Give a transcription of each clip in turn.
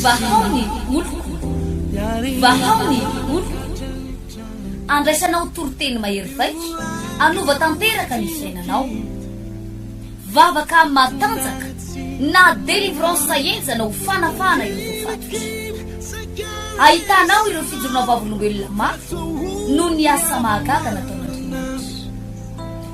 Vahao ny oloko, vahao ny oloko, andraisanao toriteny mahery vaika, hanova tanteraka ny fiainanao. Vavaka matanjaka na délivrance henjana ho fanafahana ireo voafatotra. Ahitanao ireo fijoroana vavolombelona mafy noho ny asa mahagaga nataon'Andriamanitra.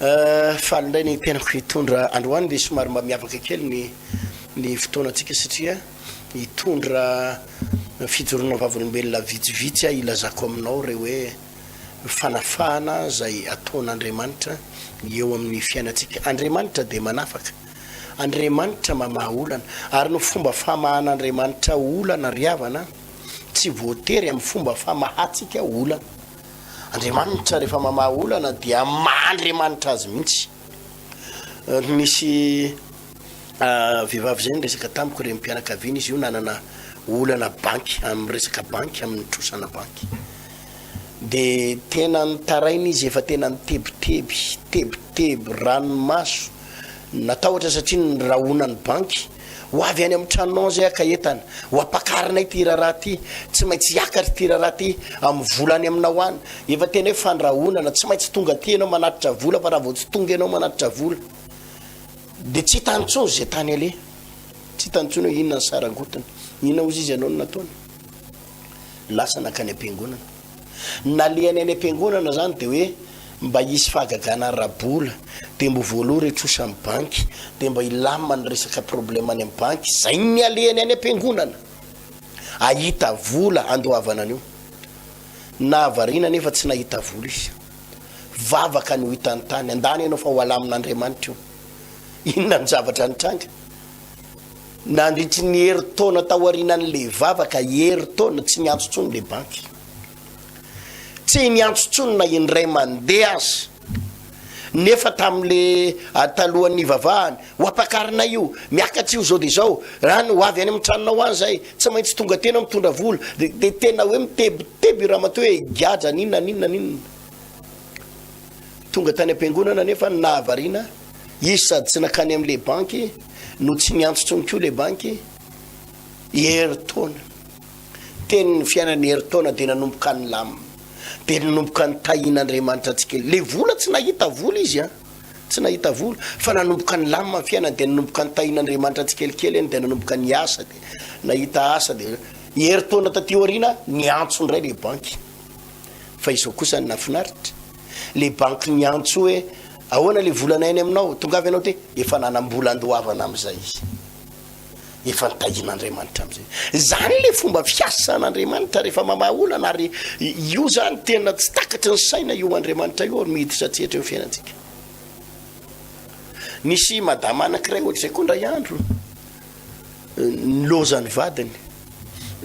Eh, faly indray ny tenako hitondra androany dia somary mba miavaka kely ny ny fotoanantsika satria hitondra fijoroana vavolombelona vitsivitsy aho hilazako aminao ireo hoe fanafahana izay ataon'Andriamanitra eo amin'ny fiainantsika. Andriamanitra dia manafaka. Andriamanitra mamaha olana. Ary ny fomba famahan'Andriamanitra olana ry havana tsy voatery amin'ny fomba famahantsika olana. Andriamanitra rehefa mamaha olana dia maha Andriamanitra azy mihitsy. Nisy vehivavy izay niresaka tamiko renim-pianakaviana izy io nanana olana banky amin'ny resaka banky amin'ny trosana banky. Dia tena nitaraina izy efa tena nitebiteby, tebiteby, ranomaso, natahotra satria ny rahonan'ny banky Ho avy any amin'ny tranonao izay haka entana. Ho ampakarina ity raharaha ity. Tsy maintsy hiakatra ity raharaha ity amin'ny vola any aminao any. Efa tena hoe fandrahonana. Tsy maintsy tonga aty ianao manatitra vola fa raha vao tsy tonga ianao manatitra vola dia tsy hitany intsony izay tany aleha. Tsy hitany intsony hoe inona ny sarangotiny. Inona hozy izy ianao no nataony? Lasa nankany am-piangonana. nalehany any am-piangonana zany de hoe mba hisy fahagagana ara-bola de mbo voaloha re trosa amin'ny banky de mba hilamina ny resaka problème any amin'ny banky zay no nialehany any am-piangonana ahita vola andoavana an'io nahavariana nefa tsy nahita vola izy vavaka no hitany tany andany ianao fa ho alamin'Andriamanitra io inona ny zavatra nitranga nandritry ny herintaona taorianan'ilay vavaka, herintaona, tsy niantso intsony ilay banky. Tsy niantso intsony na indray mandeha aza. Nefa tamin'ilay talohan'ny nivavahany, ho ampakarinay io, miakatra io izao dia izao, raha ny ho avy any amin'ny tranonao any izahay, tsy maintsy tonga aty ianao mitondra vola. Dia tena hoe mitebiteby i ramatoa hoe, Higadra an'inona an'inona an'inona. Tonga tany am-piangonana nefa ny nahavariana, izy sady tsy nankany amin'ilay banky no tsy niantso intsony koa ilay banky i Herintaona. Teny ny fiainan'i Herintaona dia nanomboka nilamina, dia nanomboka nitahiana Andriamanitra tsikelikely. Ilay vola tsy nahita vola izy an! Tsy nahita vola fa nanomboka nilamina ny fiainany dia nanomboka nitahiana Andriamanitra tsikelikely eny dia nanomboka niasa dia nahita asa dia i Herintaona taty aoriana niantso indray ilay banky. fa izao kosa ny nafinaritra le banky niantso hoe ahoana le volana any aminao tongavy anao ty efa nanambola andoavana amizay izy efa nitahin'andriamanitra amizay zany le fomba fiasan'andriamanitra rehefa mamaha olana ary io zany tena tsy takatry ny saina io andriamanitra io miditra tsy hetra eo fiainantsika nisy madama anakiray ohatr'izay koa ndray andro niloza ny vadiny,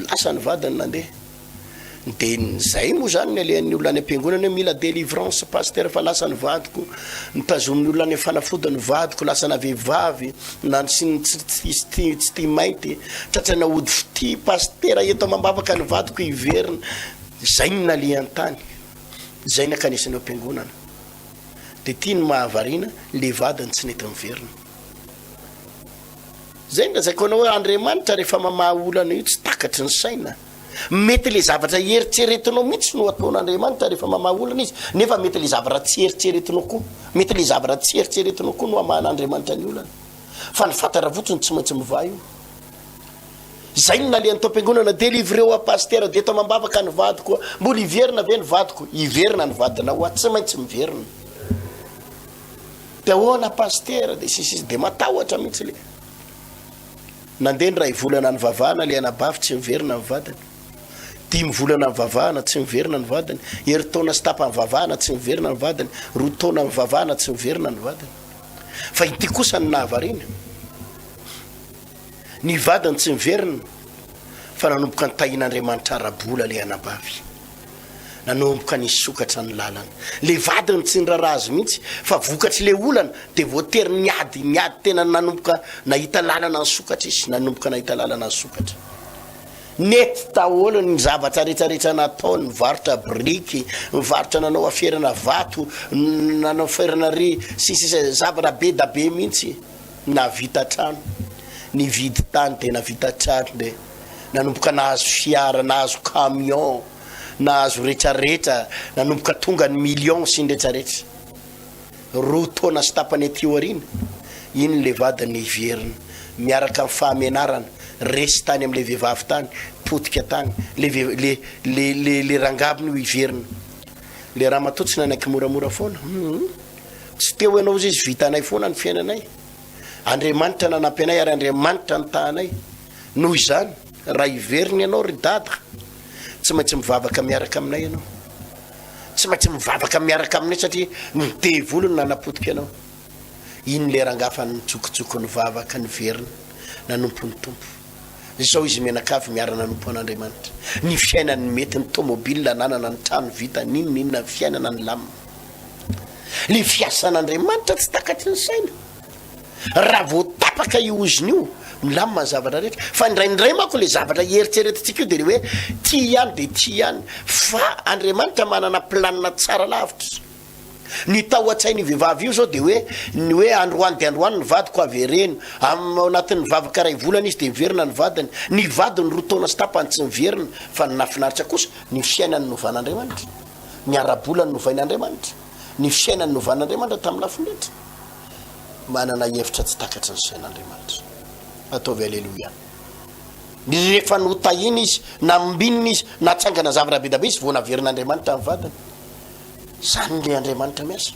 lasa ny vadiny nandeha. Dia izay moa izany ny alehan'ny olona any am-piangonana hoe mila délivrance pasteur fa lasa ny vadiko, nitazomin'ny olona any fanafody ny vadiko, lasa na vehivavy na tsy tsy tsy tia mainty, tratraina hody fitia pasitera eto amam-bavaka ny vadiko hiverina. Izay no nalehan-tany, izay nakanesany ao am-piangonana. Dia ity ny mahavariana, ilay vadiny tsy nety niverina. Zay ny lazaiko anao hoe Andriamanitra rehefa mamaha olana io tsy takatry ny saina. Mety le zavatra eritreretinao mihitsy no ataon'Andriamanitra rehefa mamaha olana izy, nefa mety le zavatra tsy eritreretinao koa. Mety le zavatra tsy eritreretinao koa no hamahan'Andriamanitra ny olana. Fa ny fantatra fotsiny tsy maintsy mivaha io. Zay ny nalehan'ny taom-piangonana, delivreo à pasteur, dia eto amam-bavaka ny vadiko. Mbola hiverina ve ny vadiko? Hiverina ny vadinao, tsy maintsy miverina. de ahoana pasitera de sisy sisy de matahotra mihitsy le nandeha ny ray volana nivavahana le anabavy tsy miverina ny vadiny dimy volana nivavahana tsy miverina ny vadiny heritaona sy tapa nivavahana tsy miverina ny vadiny roa taona nivavahana tsy miverina ny vadiny fa ity kosa ny nahavariana Ny vadiny tsy niverina fa nanomboka nitahian'Andriamanitra ara-bola ilay anabavy. Nanomboka nisokatra ny lalany. Ilay vadiny tsy niraharaha azy mihitsy fa vokatr'ilay olana dia voatery niady, niady tena nanomboka nahita lalana nisokatra izy, nanomboka nahita lalana nisokatra. Nety daholo ny zavatra rehetra rehetra nataony, nivarotra biriky, nivarotra nanao aferana vato, nanao aferana ry sisa sisa zavatra be da be mihitsy. Nahavita trano, nividy tany dia nahavita trano dia nanomboka nahazo fiara, nahazo camion, nahazo retraretra, nanomboka tonga ny millions sy ny retraretra. Roa taona sy tapany aty aoriana, iny le vadiny niverina, miaraka amin'ny fahamenarana, resy tany amin'ilay vehivavy tany, potika tany, le le le le le rangabiny io hiverina, Le ramatoa tsy nanaiky moramora foana humm tsy te ho ianao ozy izy vitanay foana ny fiainanay Andriamanitra nanampy anay ary Andriamanitra nitahanay noho izany raha hiverina ianao ry dada tsy maintsy mivavaka miaraka aminay ianao tsy maintsy mivavaka miaraka aminay satria ny devoly no nanapotika anao iny le rangaha fa nitsokitsoko ny vavaka niverina nanompo ny tompo Izao izy mianakavy miara-nanompo an'Andriamanitra, ny fiainany, ny mety, ny tômôbilina ananana, ny trano vita, n'inona n'inona, ny fiainana nilamina. Ilay fiasan'Andriamanitra tsy takatry ny saina. Raha vao tapaka io ozona io, milamina ny zavatra rehetra. Fa indraindray manko ilay zavatra hieritreretintsika io dia ilay hoe tia ihany dia tia ihany. Fa Andriamanitra manana planina tsara lavitra. Ny tao an-tsain'io vehivavy io izao dia hoe ny hoe androany dia androany ny vadiko avy hereno. Amin'ny ao anatin'ny vavaka iray volana izy dia miverina ny vadiny. Ny vadiny roa taona sy tapany tsy miverina fa ny nahafinaritra kosa ny fiainany novan'Andriamanitra. Ny ara-bola no novain'Andriamanitra. Ny fiainany novan'Andriamanitra tamin'ny lafiny rehetra. Manana hevitra tsy takatry ny sain'Andriamanitra. Ataovy Aleloia. Rehefa notahina izy na mombinina izy, natsangana zavatra be dia be izy vao naverin'Andriamanitra ny vadiny. Izany ny Andriamanitra miasa.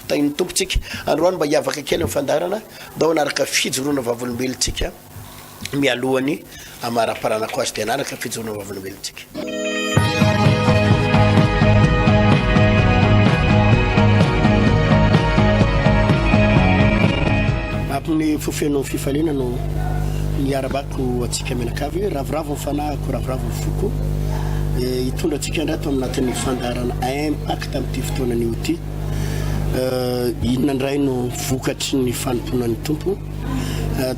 Tahin'ny Tompo tsika. Androany mba hiavaka kely amin'ny fandaharana, mba hanaraka fijoroana vavolombelontsika mialohan'ny hamaraparanako azy dia hanaraka fijoroana vavolombelontsika. Amin'ny fo feno fifaliana no miarabaka. Ho antsika mianakavy hoe ravoravo ny fanahiko, ravoravo ny foko. Hitondra antsika indray ato anatin'ny fandaharana Impact amin'ity fotoana anio ity. Inona indray no vokatry ny fanompoanan'ny Tompo?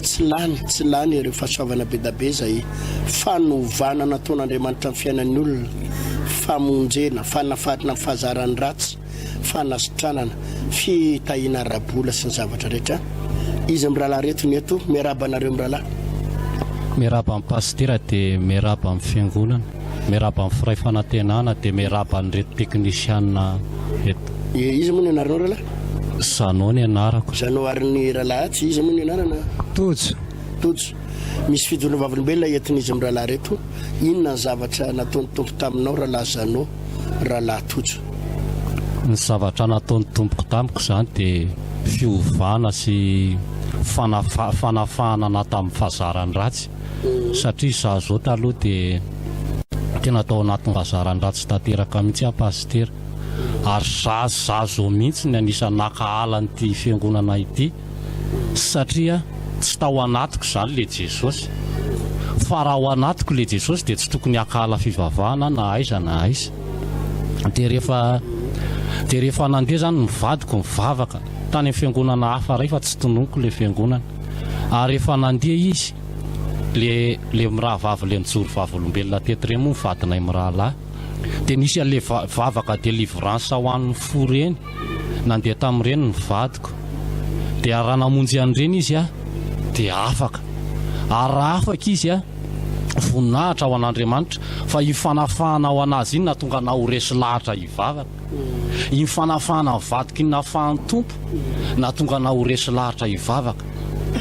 Tsy lany, tsy lany ireo fahasoavana bedabe izay fanovana nataon'Andriamanitra amin'ny fiainan'ny olona, famonjena, fanafarana ny fahazaran'ny ratsy. fanasitranana, fitahiana ara-bola sy ny zavatra rehetra. Izy mirahalahy reto ny eto. Miarahaba anareo mirahalahy. Miarahaba an'i Pasitera dia miarahaba amin'ny Fiangonana. Miarahaba ny Firay Fanantenana dia miarahaba an'ireto teknisianina reto. Dia iza moa ny anaranao rahalahy? Jeannot ny anarako. Jeannot ary ny rahalahy tsy iza moa ny anarana? Tojo. Tojo. Misy fijoroana vavolombelona entin'izy mirahalahy reto. Inona ny zavatra nataon'ny Tompo taminao rahalahy Jeannot? Rahalahy Tojo. Ny zavatra nataon'ny Tompoko tamiko izany dia fiovana sy fanafahana anà tamin'ny fahazarany ratsy satria izaho izao taloha dia tena tao anatin'ny fahazarany ratsy tanteraka mihitsy aho Pasitera ary izaho izao mihitsy no anisan'ny naka ala an'ity Fiangonana ity. satria tsy tao anatiko izany le Jesosy fa raha ao anatiko le Jesosy dia tsy tokony hakahala fivavahana na aiza na aiza dia rehefa dia rehefa nandeha izany ny vadiko nivavaka tany amin'ny fiangonana hafa iray fa tsy tononiko le fiangonana ary rehefa nandeha izy le le mirahavavy le nijoro vavolombelona teto ireny moa ny vadinay mirahalahy dia nisy an'le vavaka delivrance ho an'ny fo ireny nandeha tamin'ireny ny vadiko dia raha namonjy an'ireny izy dia afaka ary raha afaka izy voninahitra ho an'Andriamanitra fa iny fanafahana ho an'azy iny nahatonga anah ho resy lahatra hivavaka iny fanafahana ny vadiko iny nafahan'ny Tompo nahatonga anah ho resy lahatra hivavaka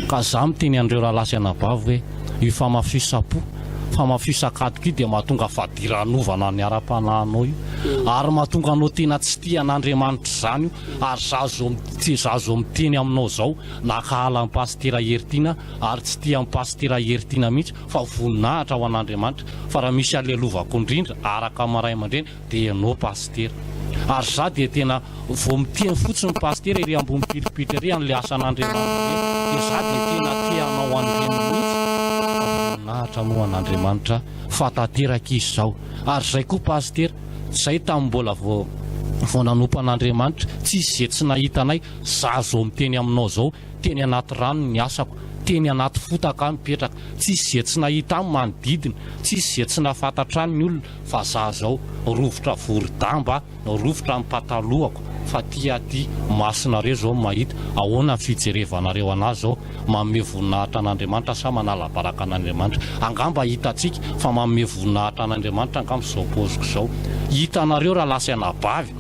ka za miteny an'ireo rahalahy sy anabavy hoe io famafisam-po fa mafio sakatoka io dia mahatonga fadiranovana ny ara-panahinao io ary mahatonga anao tena tsy tia an'Andriamanitra izany io ary za zo za zo miteny aminao zao na kahala an'i Pasitera Hery Tiana ary tsy tia an'i Pasitera Hery Tiana mihitsy fa voninahitra ho an'Andriamanitra fa raha misy alelovako indrindra araka maray aman-dreny Dia ianao Pasitera. Ary za dia tena vao miteny fotsiny Pasitera ery ambony piripitra ery an'ilay asan'Andriamanitra be dia za dia tena te hanao an'ireny mihitsy fa voninahitra moa an'Andriamanitra fa tanteraka izy zao ary izay koa Pasitera zay tamin'ny mbola vao vao nanompo an'Andriamanitra tsisy ze tsy nahita anay za zao miteny aminao zao teny anaty rano ny asako teny anaty fotaka aho mipetraka tsisy ze tsy nahita ahy manodidina tsisy ze tsy nahafantatra ahy ny olona fa za zao rovitra vory damba rovitra ny patalohako fa ty aty masonareo zao mahita ahoana ny fijerevanareo anah zao manome voninahitra an'Andriamanitra sa manala baraka an'Andriamanitra angamba hitatsika fa manome voninahitra an'Andriamanitra angamba zao poziko zao hitanareo raha lasa anabavy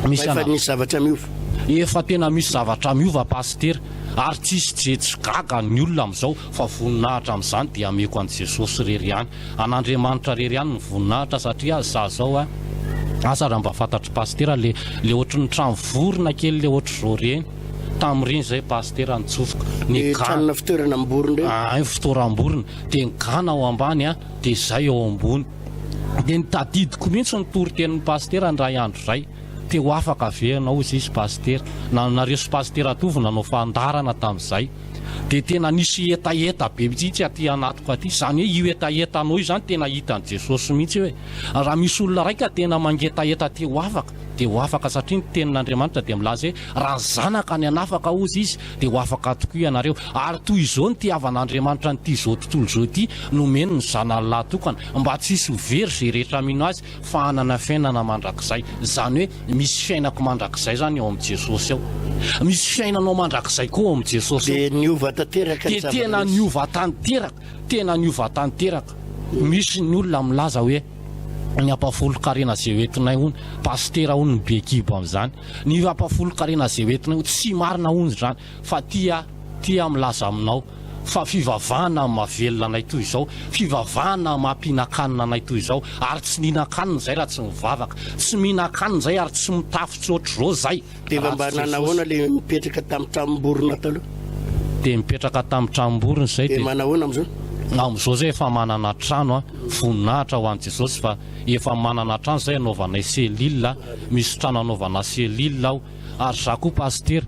misy anabavy efa misy zavatra miova efa tena misy zavatra miova pasitera ary tsisy jejy gaga ny olona amizao fa voninahitra amin'izany dia ameko an'i Jesosy irery ihany, an'Andriamanitra irery ihany ny voninahitra satria za zao a, aza raha mba fantatr'i Pasitera le le ohatry ny trano vorona kely le ohatry zao reny, tamin'ireny zay Pasitera nitsofoka, ny Le gana, tranona fitoerana am-borona reny? ahay ny fitoeram-borona, dia ny gana ao ambany a, dia izay ao ambony, dia ny tadidiko mihitsy ny toritenin'i Pasitera indray andro izay, te ho afaka ve ianao hoy izy Pasitera, na nareo sy Pasitera Tovo nanao fandaharana tamin'izay, dia tena nisy hetaheta be mitsitsy aty anatiko aty izany hoe io hetahetanao io izany tena hitan'i Jesosy mihitsy hoe raha misy olona raika ka tena mangetaheta te ho afaka dia ho afaka satria ny tenin'Andriamanitra dia milaza hoe raha ny zanaka ny anafaka hozy izy dia ho afaka tokoa ianareo ary toy izao ny tiavan'Andriamanitra an'ity izao tontolo izao ity nomeny ny zanany lahy tokana mba tsy hisy ho very izay rehetra mino azy fa hanana fiainana mandrakizay, izany hoe misy fiainako mandrakizay izany ao amin'i Jesosy ao. Misy fiainanao mandrakizay koa ao amin'i Jesosy ao. Dia niova tanteraka ny zava-nisy. Dia tena niova tanteraka, tena niova tanteraka. Misy ny olona milaza hoe ny ampahafolon-karena izay hoentinay hono, pasitera hono ny be kibo amin'izany. Ny ampahafolon-karena izay hoentinay hono, tsy marina hono izany. Fa tia, tia aho milaza aminao, fa fivavahana mahavelona anay toy izao, fivavahana maha-mpihinan-kanina anay toy izao, ary tsy nihinan-kanina izay raha tsy nivavaka, tsy mihinan-kanina izay ary tsy mitafy tsy hoatr'izao izay, Tena raha mba tsy nanao Jesosy. ahoana ilay mipetraka tamin'ny tranom-borona taloha? Dia mipetraka tamin'ny tranom-borona izay Dia dia. manahoana amin'izao? Amin'izao izay efa manana trano an, voninahitra ho an'i Jesosy fa efa manana trano izay anaovanay cellule, misy trano anaovanà cellule aho, ary izaho koa pasitera,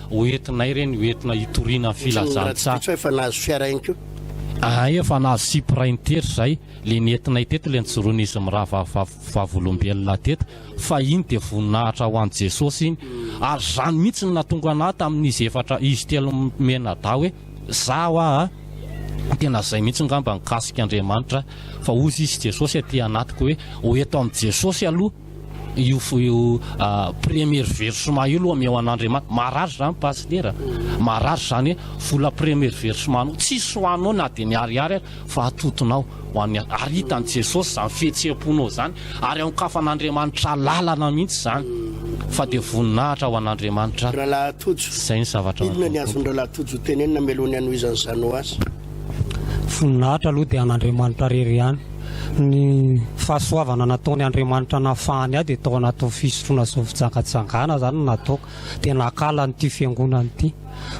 Ho entinay ireny ho entina hitoriana filazantsaha. Tsy efa nahazo fiara ihany koa? Ahay efa nahazo Supra intery izay, ilay nentinay teto ilay nijoroan'izy mirahavav vavolombelona teto, fa iny dia voninahitra ho an'i Jesosy iny, ary izany mihitsy no nahatonga anah tamin'izy efatra izy telo mianadahy hoe zaho aa tena izay mihitsy ngamba nikasik'Andriamanitra fa ozy izy Jesosy aty anatiko hoe ho eto amin'i Jesosy aloha Io io première versement io aloha omeo an'Andriamanitra. Marary izany Pasitera. Marary izany hoe vola première versement anao. Tsisy ho anao na dia ny ariary ary fa atotonao ho an'ny hafa. Ary hitan'i Jesosy izany fihetseham-ponao izany ary aokafan'Andriamanitra lalana mihitsy izany fa dia voninahitra ho an'Andriamanitra. Rahalahy Tojo, Izay ny zavatra inona ny azon'i Rahalahy Tojo hotenenina hamelony hanohizan'i Zanoa azy? Voninahitra aloha dia an'Andriamanitra rery ihany. Ny fahasoavana nataony Andriamanitra nahafahany ahy dia tao anatin'ny fisotroana zao fijangajangana izany no nataoko dia nakala an'ity fiangonana ity.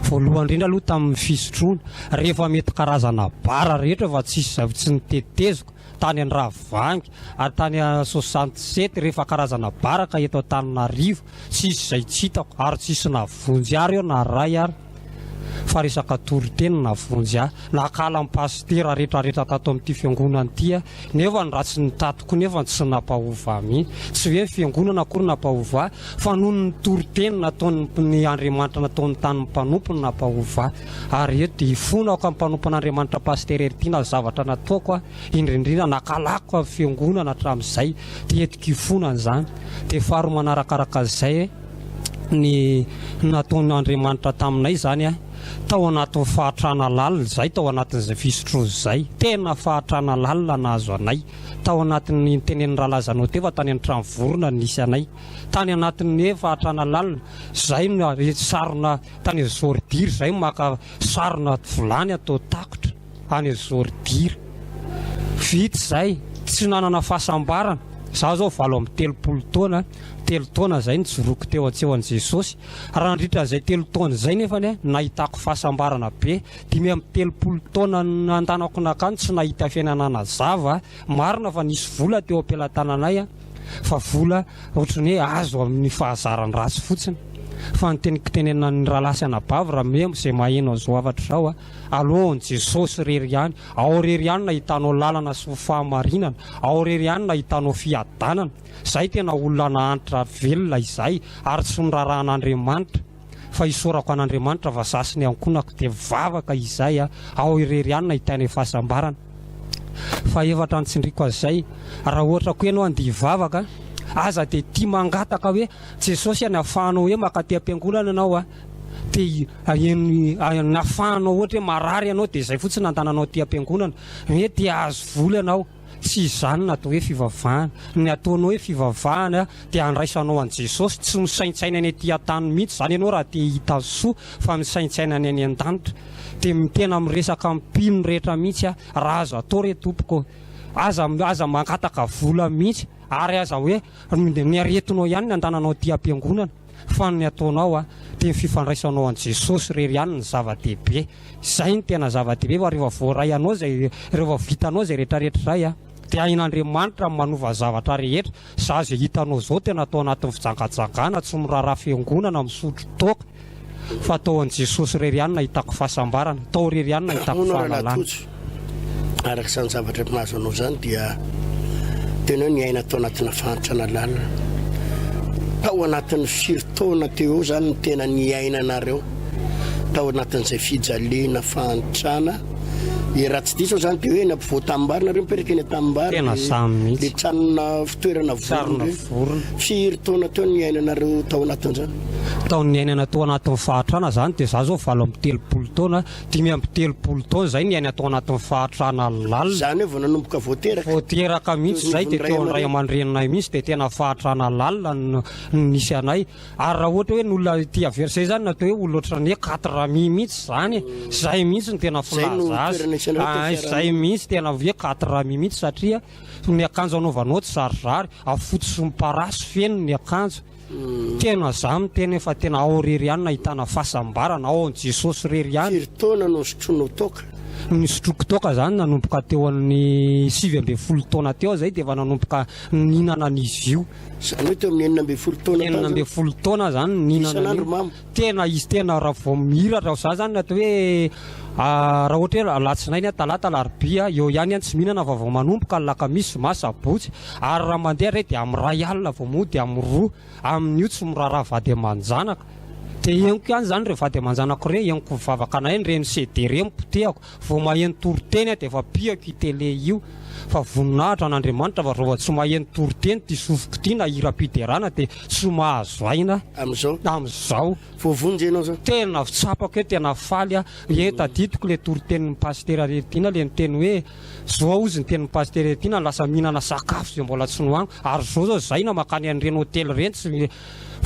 Voalohany indrindra aloha tamin'ny fisotroana, rehefa mety karazana bara rehetra fa tsisy izay tsy noteteziko, tany Andravoahangy ary tany Soixante sept rehefa karazana bara ka eto Antananarivo, Tsisy izay tsy hitako ary tsisy navonjy ary eo na ray ary fa resaka toriteny no navonjy ahy. Nakala ny pasitera rehetra rehetra tato amin'ity fiangonana ity aho nefa ny ratsy ny tatiko nefa tsy nampahova ahy mihitsy. Tsy hoe ny fiangonana akory nampahova ahy fa noho ny toriteny nataon'ny Andriamanitra nataon'ny tanin'ny mpanompo no nampahova ahy. Ary eto dia ifonako amin'ny mpanompon'Andriamanitra pasitera Heritiana ny zavatra nataoko aho. indrindra indrindra nankalako avy fiangonana hatramin'izay dia entiko hifonana izany dia faharoa manarakaraka izay ny nataon'Andriamanitra taminay izany a tao anatin'ny fahatrana lalina izay tao anatin'izay fisotroana izay tena fahatrana lalina nahazo anay tao anatin'ny tenenin'ny ralazanao teva tany an-trano vorona nisy anay tany anatin'ny fahatrana lalina izay no sarona tany Zordir izay maka sarona vilany atao takotra any Zôrdira. Vita izay, tsy nanana fahasambarana. Izaho izao valo amby telopolo taona, telo taona izay nijoroako teo an-tsehon'i Jesôsy. Raha nandritra an'izay telo taona izay nefa anie nahitako fahasambarana be. Dimy amby telopolo taona nandanako nankany tsy nahita fiainana nazava. Marina fa nisy vola teo am-pelatananay fa vola ohatran'ny hoe azo amin'ny fahazaran-dratsy fotsiny. Fa ny teniko tenenan'ny rahalahy sy anabavy Ramemo izay maheno an'izao hafatra izao, Alohan'i Jesosy irery ihany, ao irery ihany no nahitanao lalana sy ny fahamarinana, ao irery ihany no nahitanao fiadanana. Izay tena olona nahantra velona izay ary tsy norarahan'Andriamanitra fa isaorako an'Andriamanitra fa za sy ny ankohonako dia mivavaka izay aho, ao irery ihany no nahitainay fahasambarana. Fahefatra ny tsindriako an'izay, raha ohatra koa ianao handeha hivavaka, aza dia tia mangataka hoe Jesosy any ahafahanao hoe makaty am-piangonana ianao an, te aheno ny afahanao ohatra hoe marary ianao dia izay fotsiny no andananao aty am-piangonana, hoe te hahazo vola ianao, tsy izany no atao hoe fivavahana, ny ataonao hoe fivavahana dia handraisanao an'i Jesosy, tsy misaintsaina ny aty an-tany mihitsy izany ianao raha te hahita soa fa misaintsaina ny any an-danitra, dia tena miresaka amin'ny mpino rehetra mihitsy aho, raha azo atao re Tompoko ô, aza, aza mangataka vola mihitsy ary aza hoe ny aretinao ihany no andananao aty am-piangonana. Fa ny ataonao a, dia ny fifandraisanao an'i Jesosy irery ihany no zava-dehibe. Izay no tena zava-dehibe fa rehefa voaray anao izay, rehefa vitanao izay rehetrarehetra izay a, dia hain'Andriamanitra ny manova zavatra rehetra. Izaho izay hitanao izao tena atao anatin'ny fijangajangana, tsy miraharaha fiangonana, misotro toaka. Fa tao an'i Jesosy irery ihany no ahitako fahasambarana, tao irery ihany no ahitako fahalalana. Araka izany zavatra efa mahazo anao izany dia tena hoe niaina tao anatina fahantrana lalina. Tao anatin'ny firy taona teo eo izany ny tena niainanareo tao anatin'izay fijaliana fahantrana dia raha tsy diso izany dia hoe eny ampovoa tanimbary nareo mipetraka eny tanimbary tena izany mihitsy le tranona fitoerana vorona vorona firy taona teo niainanareo tao anatin'izany tao niainana tao anatin'ny fahantrana izany dia za zao valo amby telopolo taona dimy amby telopolo taona izay niaina atao anatin'ny fahatrana lalina. Izany hoe vao nanomboka vao teraka. Vao teraka mihitsy izay dia teo amin'ny ray aman-dreninay mihitsy dia tena fahatrana lalina no nisy anay. Ary raha ohatra hoe ny olona ity averse izany natao hoe olona ohatran'ny hoe quatre amis mihitsy izany e. Izay mihitsy no tena filaza azy. Ah, izay mihitsy tena hoe quatre amis mihitsy satria ny akanjo anaovanao tsy zarizary, afotsy sy miparasy feno ny akanjo. Tena za miteny efa tena ao rery ihany no ahitana fasambarana ao an Jesosy rery ihany. Firy taona no sotroinao toaka? Nisotroko toaka zany nanomboka teo an'ny sivy ambin'ny folo taona teo zay dia efa nanomboka nihinana an'izy io. Zany hoe teo amin'ny enina ambin'ny folo taona tany zany? Enina ambin'ny folo taona zany nihinana an'io. Isan'andro mamo? Tena izy tena raha vao mihira raha za zany atao hoe raha ohatra hoe alatsinainy a talata alarobia a eo ihany a tsy mihinana fa vao manomboka alakamisy zoma sabotsy ary raha mandeha re dia amin'ny ray alina vao mody amin'ny roa amin'io tsy miraharaha vady aman-janaka dia henoko ihany zany re vady aman-janako re henoko mivavaka anay ny reny sede re mipotehako Vao maheno toriteny aho dia efa pihako io tele io fa voninahitra an'Andriamanitra fa vao tsy maheno toriteny ity sofiko ity na hiram-piderana dia tsy mahazo aina amin'izao amin'izao voavonjy ianao izao. Tena tsapako hoe tena faly aho ee tadidiko ilay toritenin'ny pasitera Reritiana ilay niteny hoe zao hozy ny tenin'i pasitera Reritiana lasa mihinana sakafo izay mbola tsy nohaniko ary zao zao zay na makany an'ireny hotely ireny tsy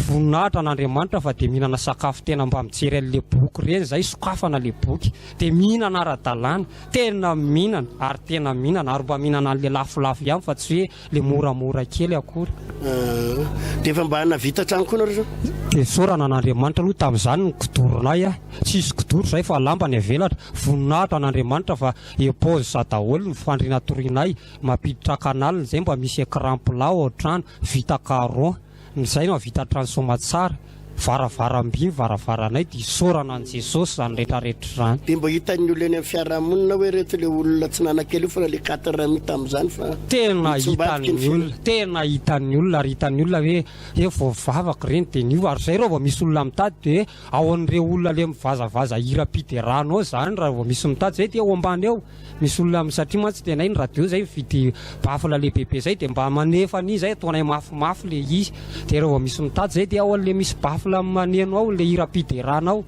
voninahitra an'Andriamanitra fa dia mihinana sakafo tena mba mijery an'ilay boky ireny zay sokafana ilay boky dia mihinana ara-dalàna, tena mihinana ary tena mihinana ary mba mihinana an'ilay lafolafo ihany fa tsy hoe ilay moramora kely akory. Ah, dia efa mba nahavita hatrany koa nareo zany? Dia isaorana an'Andriamanitra aloha tamin'izany ny kidoronay a! Tsisy kidoro izay fa lamba ny avelatra, voninahitra an'Andriamanitra fa epozy sa daholo ny fandriana torianay, mampiditra canal izay mba misy ecran plat ao an-trano, vita carron. Izay no hahavita trano soamatsara, varavaram-by ny varavaranay dia isaorana an'i Jesosy izany retraretra izany. Dia mba hitan'ny olona eny amin'ny fiarahamonina hoe ireto ilay olona tsy nanankely io fa ilay quatre rami tamin'izany fa Tena hitan'ny olona, tena hitan'ny olona ary hitan'ny olona hoe hoe vao vavaka ireny dia niova ary izay raha vao misy olona mitady dia ao an'ireo olona ilay mivazavaza hiram-piderana ao izany raha vao misy mitady izay dia ao ambany ao. Misy olona am satria mantsy tena iny radio zay mividy baffle lehibebe zay dia mba manefa an'izy zay ataonay mafimafy le izy dia raha vao misy mitady zay dia ao anle misy baffle maneno ao le hiram-piderana ao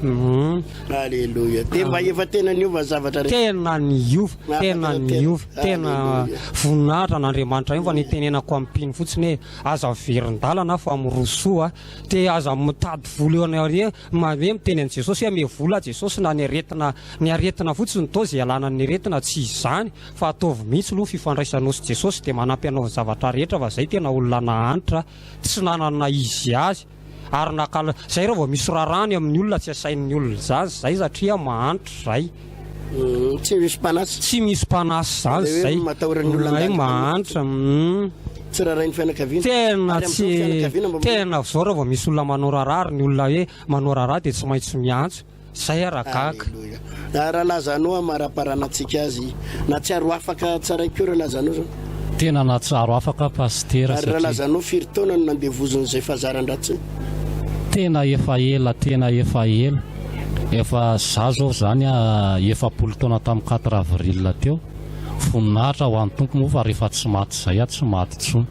humm. Aleloia dia mba efa tena niova zavatra rehetra. Tena niova, tena niova, tena voninahitra an'Andriamanitra ihany fa ny tenenako am mpino fotsiny hoe aza miverin-dalana aho fa miroso a, dia aza mitady vola eo anareo, hoe miteny an'i Jesosy hoe ame vola aho Jesosy na ny aretina Ny aretina fotsiny toa izay ialana ny aretina tsy izy izany fa ataovy mihitsy aloha ny fifandraisanao sy Jesosy dia manampy anao ny zavatra rehetra fa izay tena olona nahantra tsy nanana izy azy ary nakal izay raha vao misy raharaha any amin'ny olona tsy asain'ny olona izany izay satria mahantra izay Tsy misy mpanahy. tsy misy mpanahy izany Ilay hoe izay matahoran'ny olona mahay handalina mahantra hum. Tsy raharahin'ny fianakaviana. Tena Ary tsy amin'izao ny fianakaviana mba tena avy izao raha vao misy olona manao raharaha ary ny olona hoe manao raharaha dia tsy maintsy miantso. Zay ara gaga. Aleloia Ra Lazanô amaraparana antsika azy natsiaro afaka tsaray ko ra Lazanô zao. Tena natsiaro afaka pasitera satria. Ary ra Lazanô firy taona no nandevoziny zay fazarandratsiny. Tena efa ela tena efa ela efa za zao zany a efapolo taona tam quatre avril teo voninahitra ho an Tompo moa fa refa tsy maty zay a tsy maty tsony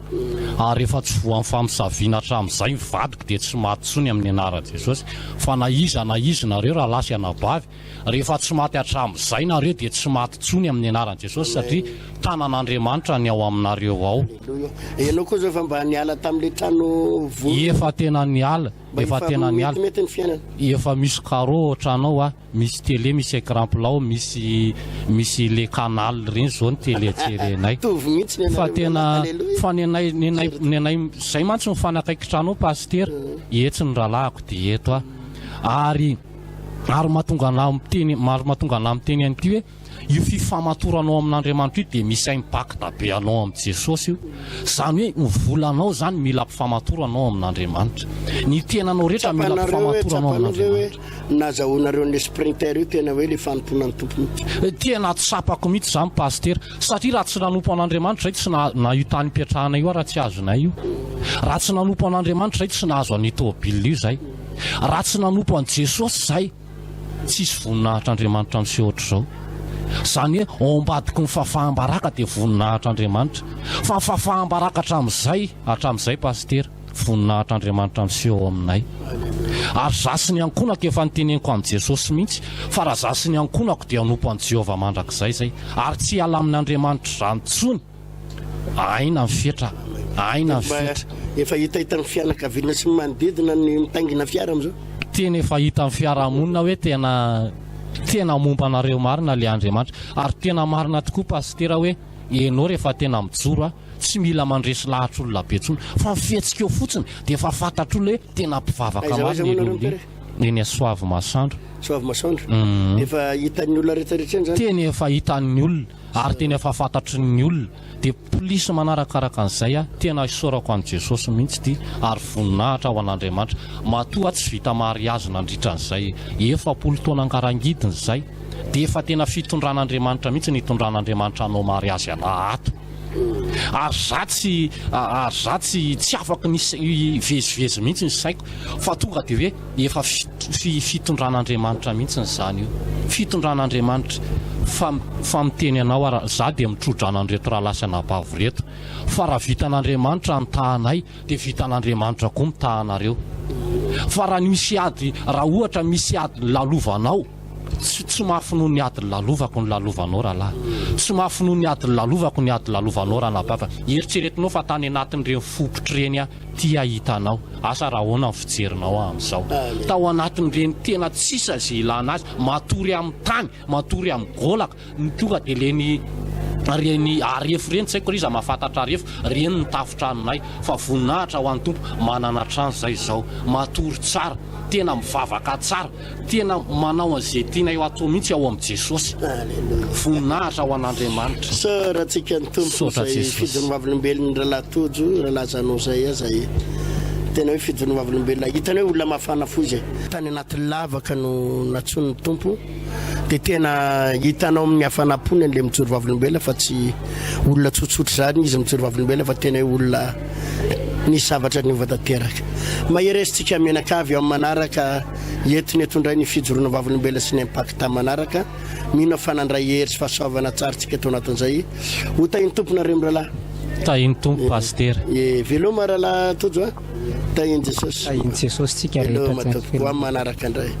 ary efa tsy voan famosavina atramizay ny vadiko. dia tsy maty tsony amin'ny anaran Jesosy, fa na iza na iza nareo rahalahy sy anabavy, rehefa tsy maty hatramizay nareo dia tsy maty tsony amin'ny anaran Jesosy satria tanan Andriamanitra ny ao aminareo ao. Enao koa zao efa mba niala tamle trano vonona. Efa tena niala, efa tena niala, efa misy carreau ao tranao a. Misy télé misy écran plat ao misy misy le canal reny zao ny télé jerenay fa tena fa nenay nenay nenay zay mantsy ny fanakaikitra anao pasitera etsy ny rahalahiko de eto aho ary ary mahatonga anah miteny maro mahatonga anah miteny an'ity hoe Io fifamatoranao amin'Andriamanitra io dia misy impact be anao amin'i Jesosy io. Izany hoe ny volanao izany mila ampifamatorana ao amin'Andriamanitra. Ny tenanao rehetra mila ampifamatorana ao amin'Andriamanitra. Tsapanareo hoe nazahoanareo an'ilay Sprinter io tena hoe ilay fanompoana ny Tompo mihitsy. Tena tsapako mihitsy izany Pasitera. Satria raha tsy nanompo an'Andriamanitra izay tsy naha io tany ipetrahanay io aho raha tsy azonay io. Raha tsy nanompo an'Andriamanitra izay tsy nahazo an'io tôbila io izay. Raha tsy nanompo an'i Jesosy izay. Tsisy voninahitr'Andriamanitra miseho ohatr'izao. Izany hoe ao ambadiky ny fahafaham-baraka dia voninahitr'Andriamanitra. Fa fahafaham-baraka hatramin'izay, hatramin'izay Pasitera, voninahitr'Andriamanitra miseho ao aminay. Ary izaho sy ny ankohonako, efa noteneniko amin'i Jesosy mihitsy, fa raha izaho sy ny ankohonako dia hanompo an'i Jehovah mandrakizay izay, ary tsy hiala amin'Andriamanitra izany intsony. Aina ny fetra, aina ny fetra. Efa hita hitan'ny fianakaviana sy ny manodidina ny mitaingina fiara amin'izao. Tena efa hitan'ny fiarahamonina hoe tena tena momba anareo marina ilay Andriamanitra. Ary tena marina tokoa Pasitera hoe ianao rehefa tena mijoro a, tsy mila mandresy lahatr'olona be intsony fa ny fihetsika eo fotsiny dia efa fantatr'olona hoe tena mpivavaka marina ianao. Aiza aiza moa nareo Père? Eny Soavimasoandro. Soavimasoandro? Efa hitan'ny olona rehetra rehetra eny izany? Tena efa hitan'ny olona. ary tena efa fantatry ny olona dia plis manarakaraka an'izay aho tena isaorako an'i Jesosy mihitsy ity ary voninahitra ho an'Andriamanitra matoa tsy vita mariazy nandritra an'izay efapolo taona angarangidiny izay dia efa tena fitondran'Andriamanitra mihitsy ny itondran'Andriamanitra hanao mariazy anah ato ary za tsy ary za tsy tsy afaka ny hivezivezy mihitsy ny saiko fa tonga dia hoe Efa fitondran'Andriamanitra mihitsy izany io. Fitondran'Andriamanitra fa fa miteny anao ary za dia mitrodrana an'ireto rahalahy sy anabavy ireto fa raha vitan'Andriamanitra ny tahanay dia vitan'Andriamanitra koa mitaha anareo. Fa raha misy ady raha ohatra misy ady nilalovanao tsy tsy mafy noho ny ady nilalovako nilalovanao rahalahy. Tsy mafy noho ny ady nilalovako ny ady nilalovanao ranabavy. Eritreretinao fa tany anatin'ireny fopotry ireny aho Ty aho hitanao, asa raha ahoana ny fijerinao aho amin'izao. Tao anatin'ireny tena tsy sisa izay ilana azy, matory amin'ny tany, matory amin'ny gaolaka, no tonga dia ireny, ireny arefo ireny, tsy haiko raha iza mahafantatra arefo, ireny no tafotranonay. Fa voninahitra ho an'ny Tompo, manana trano izay izao. Matory tsara, tena mivavaka tsara. Tena manao an'izay tianay ho atao mihitsy ao amin'i Jesosy. Alléluia. Voninahitra ho an'Andriamanitra. Soratsikany Tompo Misaotra izay Jesosy. fidin'ny vavolombelon'i Rahalahy Tojo, Rahalahy Zanozay aza e. Tena hoe fidin'ny vavolombelona. Hitany hoe olona mafana fo izy e. Tany anaty lavaka no natsoin'ny Tompo dia tena hitanao amin'ny hafanam-pony an'ilay mijoro vavolombelona fa tsy olona tsotsotra izany izy mijoro vavolombelona fa tena hoe olona Nisy zavatra niova tanteraka. Maheresitsika mianakavy amin'ny manaraka entina eto indray ny fijoroana vavolombelona sy ny Impact manaraka. Mino aho fa nandray hery sy fahasoavana tsara tsika tao anatin'izay. Ho tahin'ny Tompo nareo mirahalahy. Tahin'ny Tompo Pasitera. Ye, veloma rahalahy Tojo a. Tahin'i Jesosy. Tahin'i Jesosy tsika rehetra. Veloma Tompoko. Ho amin'ny manaraka indray.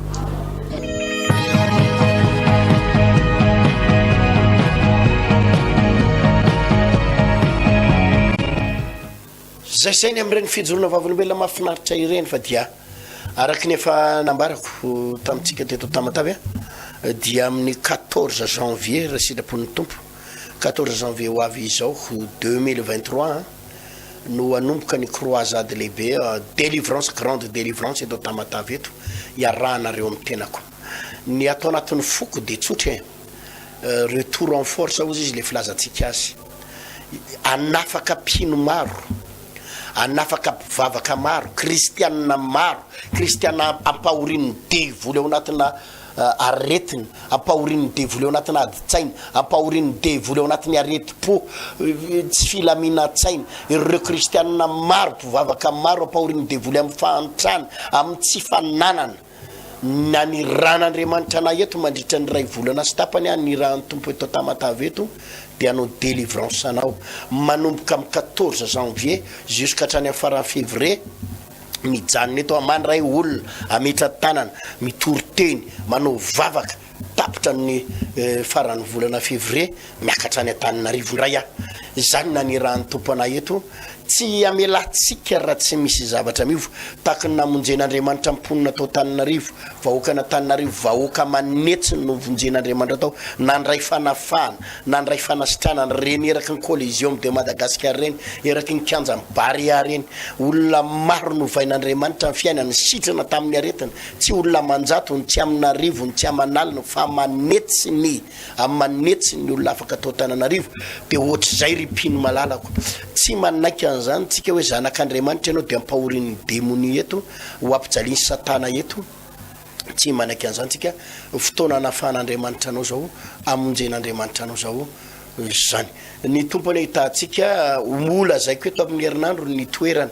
Izay sainy amin'ireny fijoroana vavolombelona mahafinaritra ireny fa dia araka ny efa nambarako tamintsika teto Tamatave dia amin'ny 14 janvier raha sitrapon'ny Tompo quatorze janvier ho avy izao deux mille vingt trois an, no hanomboka ny croisade lehibe delivrance grande delivrance eto Tamatave eto iarahanareo amin'ny tenako. Ny ato anatin'ny foko dia tsotra e, retour en force hozy izy le filazantsika azy. Hanafaka mpino maro, hanafaka mpivavaka maro, kristianina maro, kristiana ampahorian'ny devoly ao anatina. aretina, ampahorian'ny devoly ao anatin'ny adin-tsaina, ampahorian'ny devoly ao anatin'ny aretim-po, tsy filaminan-tsaina. Ireo kristiana maro, mpivavaka maro, ampahorian'ny devoly amin'ny fahantrana, amin'ny tsy fananana. Naniran'Andriamanitra anay eto mandritra ny iray volana sy tapany aho, nirahan'ny Tompo eto Tamatave eto dia hanao délivrance anao. Manomboka amin'ny quatorze janvier, jusqu'hatrany amin'ny faran'ny février, mijanona eto amany ray olona ametra tanana mitory teny manao vavaka tapitra ny eh, faran'ny volana fevrie miakatra any antaninarivo ndray ah izany nanirahan'ny tomponay eto tsy amelatsika raha tsy misy zavatra miova taky ny namonjen'andriamanitra mponina tao taninarivo vahoakana taninarivo vahoaka manetsy no vonjen'andriamanitra tao nandray fanafahana Nandray fanasitrana ny reny eraky ny Coliseum de Madagascar ireny, eraky ny kianjan'ny Barea ireny. Olona maro novain'Andriamanitra ny fiainany, nisitrana tamin'ny aretina. Tsy olona aman-jatony, tsy amin'arivony, tsy aman'aliny, fa aman'hetsiny, aman'hetsiny ny olona afaka tao Antananarivo. Dia hoatr'izay ry mpino malalako. Tsy manaiky an'izany tsika hoe zanak'Andriamanitra ianao dia ampahorian'ny demonia eto, ho ampijalian'i Satana eto. Tsy manaiky an'izany tsika. Fotoana anafahan'Andriamanitra anao izao, amonjen'Andriamanitra anao izao izany. Ny Tompo anie hitantsika, ho lazaiko eto amin'ny herinandro ny toerana,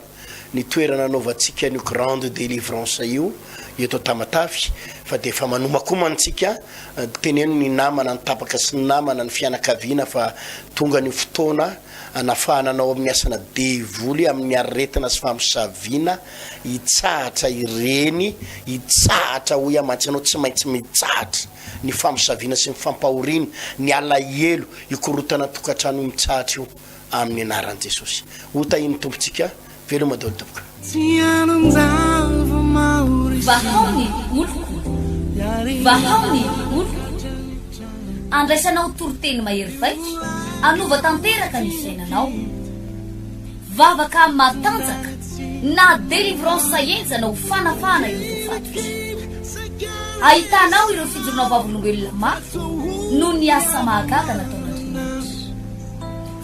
ny toerana anaovantsika an'io grande délivrance io eto Tamatave, fa dia efa manomakomana antsika, teneno ny namana, ny tapaka sy ny namana, ny fianakaviana fa tonga ny fotoana, Hanafahana anao amin'ny asana devoly amin'ny aretina sy famosaviana hitsahatra ireny hitsahatra hoy aho mantsy ianao tsy maintsy mitsahatra ny famosaviana sy ny fampahoriana ny alahelo hikorotana an-tokantrano io mitsahatra io amin'ny anaran'i Jesosy hotahian'ny Tompontsika Veloma daholo tompoko. Vahao ny oloko, vahao ny oloko, andraisanao toriteny mahery vaika, anova tanteraka ny fiainanao. Vavaka matanjaka na délivrance henjana ho fanafahana ireo voafaty. Ahitanao ireo fijoroana vavolombelona mafy noho ny asa mahagaga nataon'Andriamanitra.